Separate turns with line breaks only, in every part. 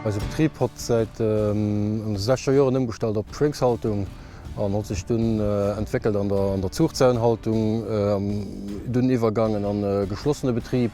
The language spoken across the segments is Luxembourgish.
Eise Betrib hott säit en 60 Joren ëmgestallt op Schwéngshaltung an hott sech dunn entwéckelt an der Zuchzäunhaltung, dunn iwwergaangen an geschlossene Betrib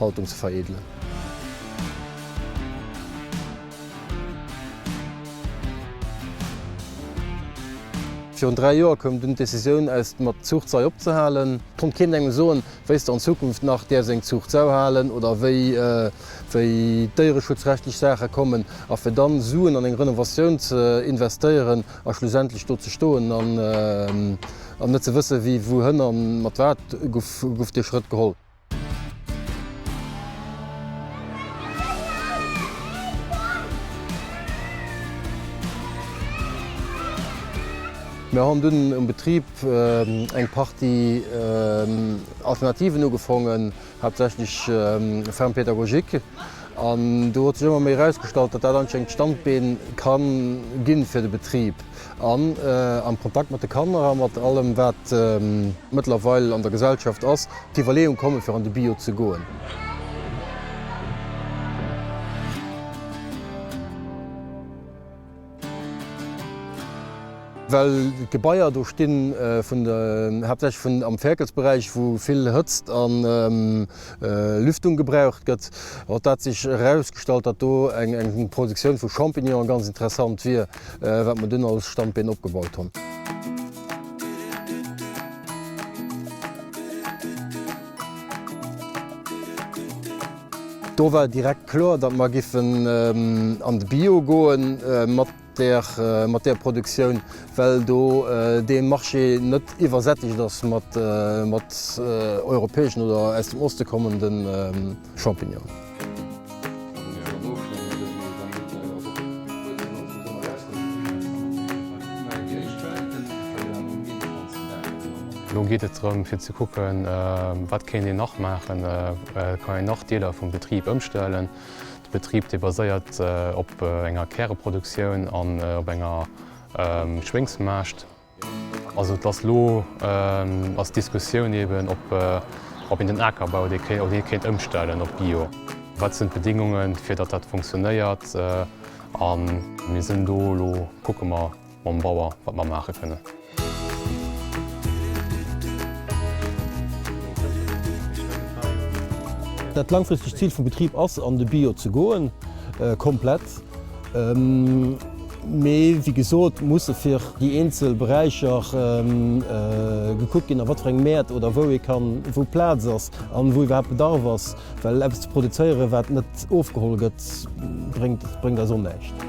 Haltung ze veredelen. Virun 3 Joer koum dunn d'Decisioun aus dem mat Zuucht Sei opzehalen. Konnt keen engem soen wéis de an Zukunft nach däerfs eng Zuucht Sau halen oder wéi wéi déiereschutzrechtlech Saache kommen. A fir dann Suen an eng Renovatioun ze investéieren a schlussendlech do ze stoen an net ze wësse wéi wouhënner mat wat, guff dee Schrëtt geholl. Mir han dunn um Betrib eng Partie Alternativen ugefongen, haaptsächlech Ferme pédagogique, an do huet sech ëmmer méi erausgestallt, datt dat anscheinend d'Standbeen kann ginn fir de Betrib. An am Kontakt mat de Kanner a mat allem, wat mëttlerweil an der Gesellschaft ass, d'Iwwerleeung kommen, fir an de Bio ze goen. Well d'Gebaier do stinn, haaptsächlech vun am Fäerkelsberäich, wou vill Hëtzt a Lüftung gebraucht gëtt, huet dat sech erausgestallt, datt do eng Produktioun vu Champignonen ganz interessant wier. wat mer dunn als Standbeen opgebaut hunn. Do war direkt kloer, datt mer giffen an de Bio goen mat där, mat där Produktioun, well do dee Marché net iwwersättegt ass mat, mat europäeschen oder aus dem Oste kommenden, Champignon.
Lo geet et drëm fir ze kucken, wat kéint een nach maachen, kann een nach Deeler vum Betrib ëmstellen. De Betrib dee baséiert op enger Käreproduktioun an op enger Schwéngsmaascht. Also et ass elo ass d'Diskussioun eeben, ob een den Akerbau, ob een dee kéint ëmstellen op Bio. Wat sinn d'Bedingungen, fir datt dat funktionéiert? A mir sinn do elo, kucke mer mam Bauer, wat mer maache kënnen.
Dat laangfristegt Zil vum Betrib ass, an de Bio ze goen, komplett. Mee wéi gesot, musse fir déi eenzel Beräicher gekuckt ginn, a wat fir eng Mäert oder wou ee kann, wou Plaz ass a wou iwwerhaapt Bedarf ass. Well eppes ze produzéieren, wat net ofgeholl gëtt, bréngt eis och näischt.